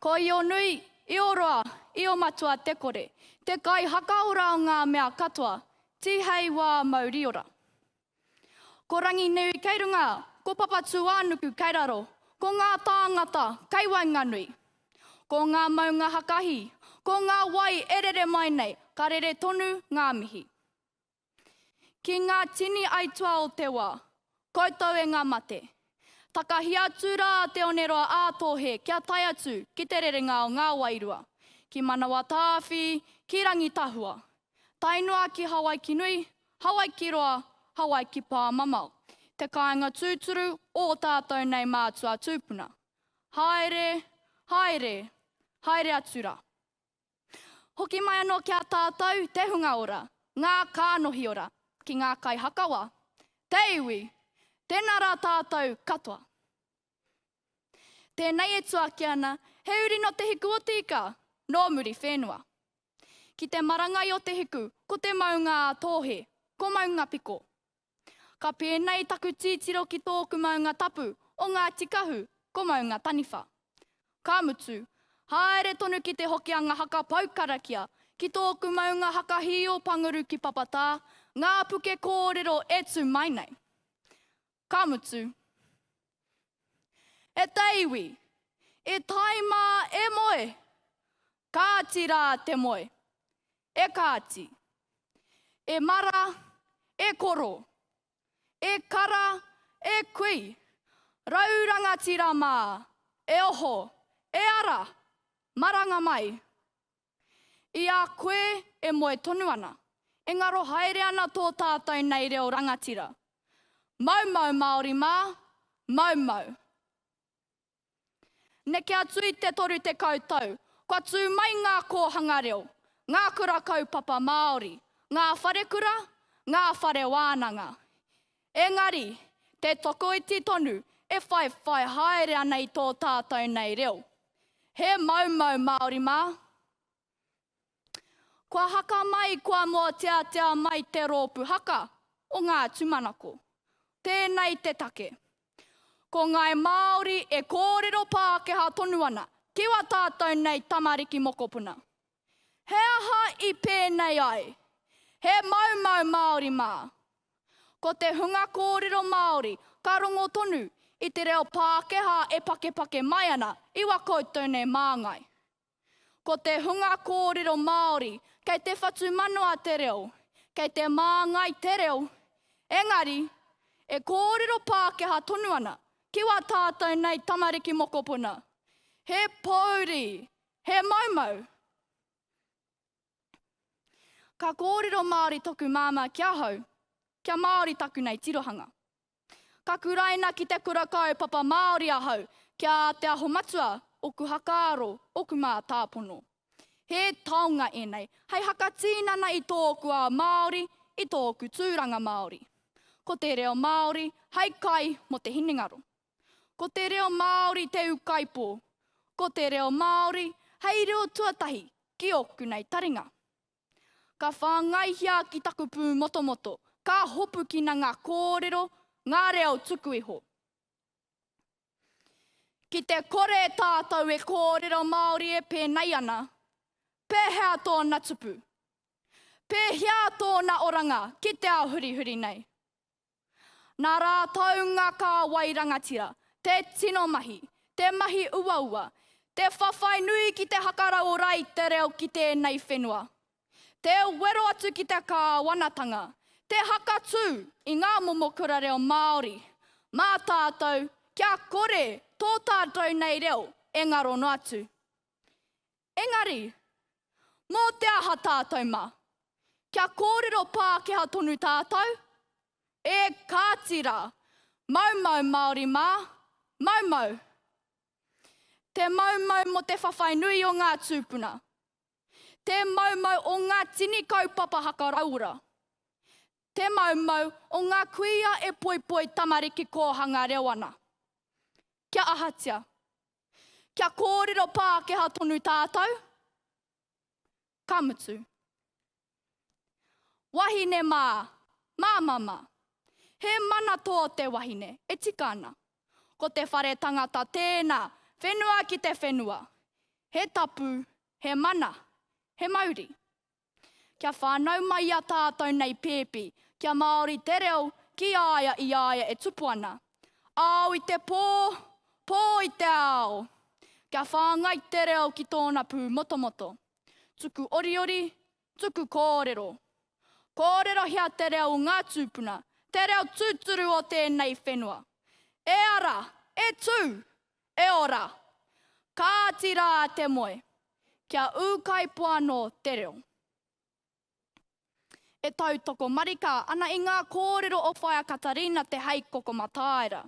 Ko Ionui, Ioroa, Iomatua te kore, te kai hakaora o ngā mea katoa, Tihei wā mauriora. Ko Ranginui kei runga, ko Papatūānuku kei raro, ko ngā tāngata kei waenganui. Ko ngā maunga hakahi, ko ngā wai e rere mai nei, ka rere tonu ngā mihi. Ki ngā tini aituā o te wā, koutou e ngā mate. Takahi atu rā a Te Oneroa ā Tōhe kia tae atu ki te rerenga o ngā wairua, ki Manawatāwhi, ki Rangitahua, tae noa ki Hawaiki nui, Hawaiki roa, Hawaiki pāmamao, te kāinga tūturu o ō tātou nei mātua tūpuna. Haere, haere, haere atu rā. Hoki mai anō ki a tātou te hunga ora, ngā kānohi ora, ki ngā kaihakawa, te iwi, tēnā rā tātou katoa. Tēnei e tuaki ana, he uri nō Te Hiku o Tīka, nō Muriwhenua. Ki te marangai o Te Hiku, ko te maunga a Tōhe, ko Maungapiko. Ka pēnei taku tītiro ki tōku maunga tapu o Ngāti Kahu, ko Maunga Taniwha. Ka mutu, haere tonu ki Te Hokianga haka pau karakia, ki tōku maunga haka hī o Panguru ki Papatā, ngā puke kōrero e tū mai nei. Ka mutu. E te iwi, e tae mā e moe! Kāti rā te moe. E Kāti. E Mara, e Koro. E Kara, e Kui. Rau rangatira mā, e oho, e ara! Maranga mai! I a koe e moe tonu ana, e ngaro haere ana tō tātou nei reo rangatira. Maumau Māori mā, maumau! Neke atu i te 30 tau, kua tū mai ngā kōhanga reo, ngā kura kaupapa Māori, ngā wharekura, ngā whare wānanga. Engari, te tokoiti tonu e whaiwhai haere ana i tō tātou nei reo. He maumau Māori mā. Kua haka mai, kua mōteatea mai te rōpū haka o ngā tūmanako. Tēnei te take. Ko ngāi Māori e kōrero Pākehā tonu ana, kiwa tātou nei tamariki mokopuna. He aha i pēnei ai? He maumau Māori mā. Ko te hunga kōrero Māori ka rongo tonu i te reo Pākehā e pakepake mai ana i wā koutou nei māngai. Ko te hunga kōrero Māori, kei te whatumanawa te reo, kei te māngai te reo, engari, e kōrero Pākehā tonu ana, ki wā tātou nei tamariki mokopuna. He pōuri, he maumau. Ka kōrero Māori toku māmā ki ahau, kia Māori taku nei tirohanga. Ka kuraina ki te kura kaupapa Māori ahau ki a Te Aho Matua, oku hakaaro, oku mātāpono. He taonga ēnei hei hakatīnana i tōku ao Māori, i tōku tūranga Māori. Ko te reo Māori hei kai mō te hinengaro. Ko te reo Māori te ūkaipō. Ko te reo Māori hei reo tuatahi ki ōku nei taringa. Ka whāngaihia ki taku pūmotomoto, ka hopukina ngā kōrero, ngā reo tuku iho. Ki te kore tātou e kōrero Māori e pēnei ana, pēhea tōna tupu? Pēhea tōna oranga ki te ao hurihuri nei? Nā rātou ngā kāwai rangatira, te tino mahi, te mahi uaua, te whawhai nui ki te hakaraora i te reo ki tēnei whenua. Te wero atu ki te kāwanatanga, te hakatū i ngā momo kura reo Māori, mā tātou kia kore tō tātou nei reo e ngaro noa atu. Engari, mō te aha tātou mā? Kia kōrero Pākehā tonu tātou? Ē, kāti rā, maumau Māori mā, maumau. Te maumau mō te whawhai nui o ngā tūpuna. Te maumau o ngā tini kaupapa hakarauora. Te maumau o ngā kuia e poipoi tamariki kōhanga reo ana. Kia ahatia? Kia kōrero Pākehā tonu tātou? Ka mutu. Wahine mā, mā mama. He mana tō te wahine, e tika ana. Ko te whare tangata tēnā, whenua ki te whenua. He tapu, he mana, he mauri. Kia whānau mai i a tātou nei pēpi, kia Māori te reo ki a ia i a ia e tupu ana. Ao i te pō, pō i te ao! Kia whāngai te reo ki tōna pū motomoto. Tuku oriori, tuku kōrero. Kōrerohia te reo o ngā tūpuna, te reo tūturu o tēnei whenua. E ara! E tū! E ora! Kāti rā te moe, kia ūkaipō anō te reo. E tautoko marika ana i ngā kōrero o Whaea Katarina Te Heikoko Mataira.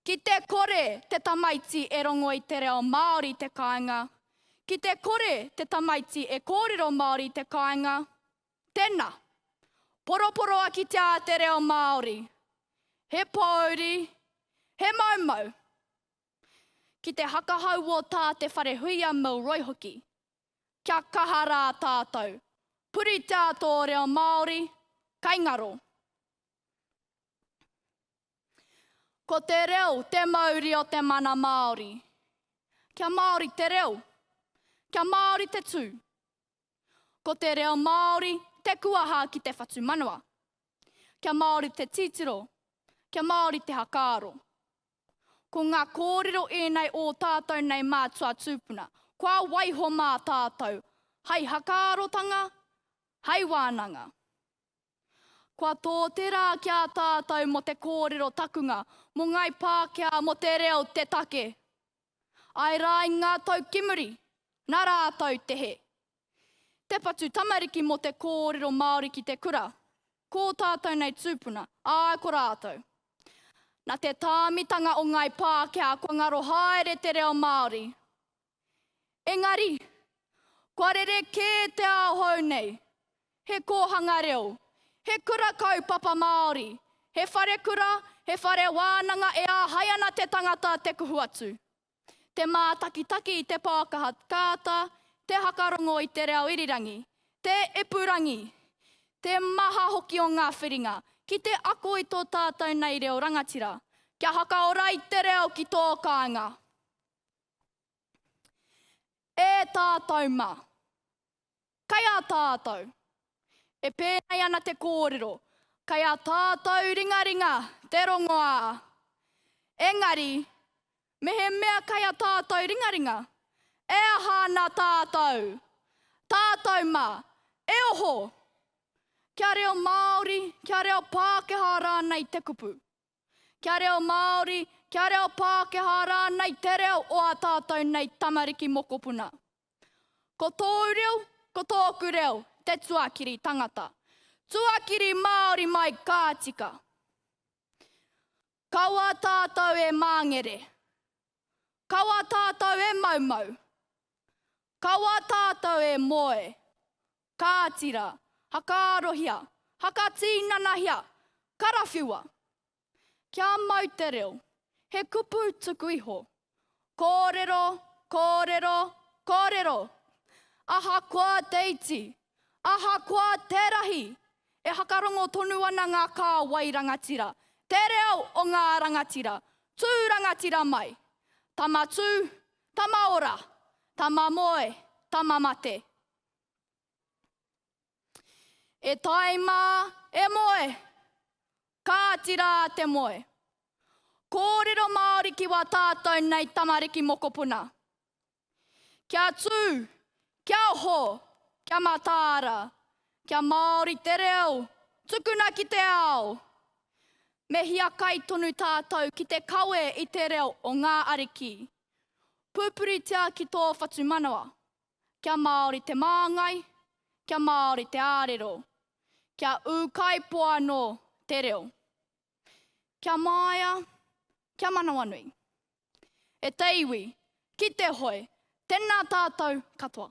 Ki te kore te tamaiti e rongo i te reo Māori i te kāinga, ki te kore te tamaiti e kōrero Māori i te kāinga, Tena! Poroporoa kitea te reo Maori. He pouri, he maumau. Ki te hakahau o tā te Wharehuia Milroy hoki. Kia kaha rā tātou. Puritia tō reo Māori, kai ngaro. Ko te reo te mauri o te mana Māori. Kia Māori te reo. Kia Māori te tū. Ko te reo Māori te kuaha ki te whatumanawa. Kia Māori te titiro, kia Māori te hakaaro. Ko ngā kōrero ēnei ō tātou nei mātua tūpuna, kua waiho mā tātou hai hakaarotanga, hai wānanga. Kua tō te rā ki a tātou mō te kōrero takunga, mō Ngai Pākehā, mō te reo te take. Āe rā i ngā tau ki muri, nā rātou te he. Te patu tamariki mō te kōrero Māori ki te kura, ko ō tātou nei tūpuna, āe ko rātou. Nā te tāmitanga o Ngāi Pākehā kua ngaro haere te reo Māori. Engari, kua rere kē te ao hou nei, He kōhanga reo. He kura kaupapa Māori. He wharekura, he whare wānanga e āhei ana te tangata te kuhu atu. Te mātakitaki i te pākaha kāta, te hakarongo i te reo irirangi, te ipurangi, te maha hoki o ngā whiringa ki te ako i tō tātou nei reo rangatira, kia hakaora i te reo ki tō kāinga. E tātou ma. Kai a tātou. E pēnei ana te kōrero, kai a tātou ringaringa te rongoā. Engari, mehemea kai a tātou ringaringa, e aha ana tātou? Tātou mā, e oho! Kia reo Māori, kia reo Pākehā rānei te kupu? Kia reo Māori, kia reo Pākehā rānei te reo o ā tātou nei tamariki mokopuna. Ko tōu reo, ko tōku reo, te tuakiri tangata. Tuakiri Māori mai ka tika. Kaua tātou e māngere. Kaua tātou e maumau. Kaua tātou e moe. Kāti rā, hakaarohia, hakatīnanahia, karawhiua! Kia mau te reo, he kupu tuku iho. Kōrero, kōrero, kōrero! Ahakoa te iti, ahakoa te rahi, e hakarongo tonu ana ngā kāwai rangatira, te reo o ngā rangatira, tū rangatira mai! Tama tū, tama ora, tama moe, tama mate! E tae mā, e moe! Kāti rā te moe. Kōrero Māori ki wā tātou nei tamariki mokopuna. Kia tū, kia oho, kia mataara, kia Māori te reo, tukuna ki te ao! Me hiakai tonu tātou ki te kawe i te reo o ngā ariki. Pūpuritia ki tō whatumanawa. kia Māori te māngai, kia Māori te ārero, kia ūkaipō anō te reo. Kia māia, kia manawanui. E te iwi, ki te hoe, tēnā tātou katoa.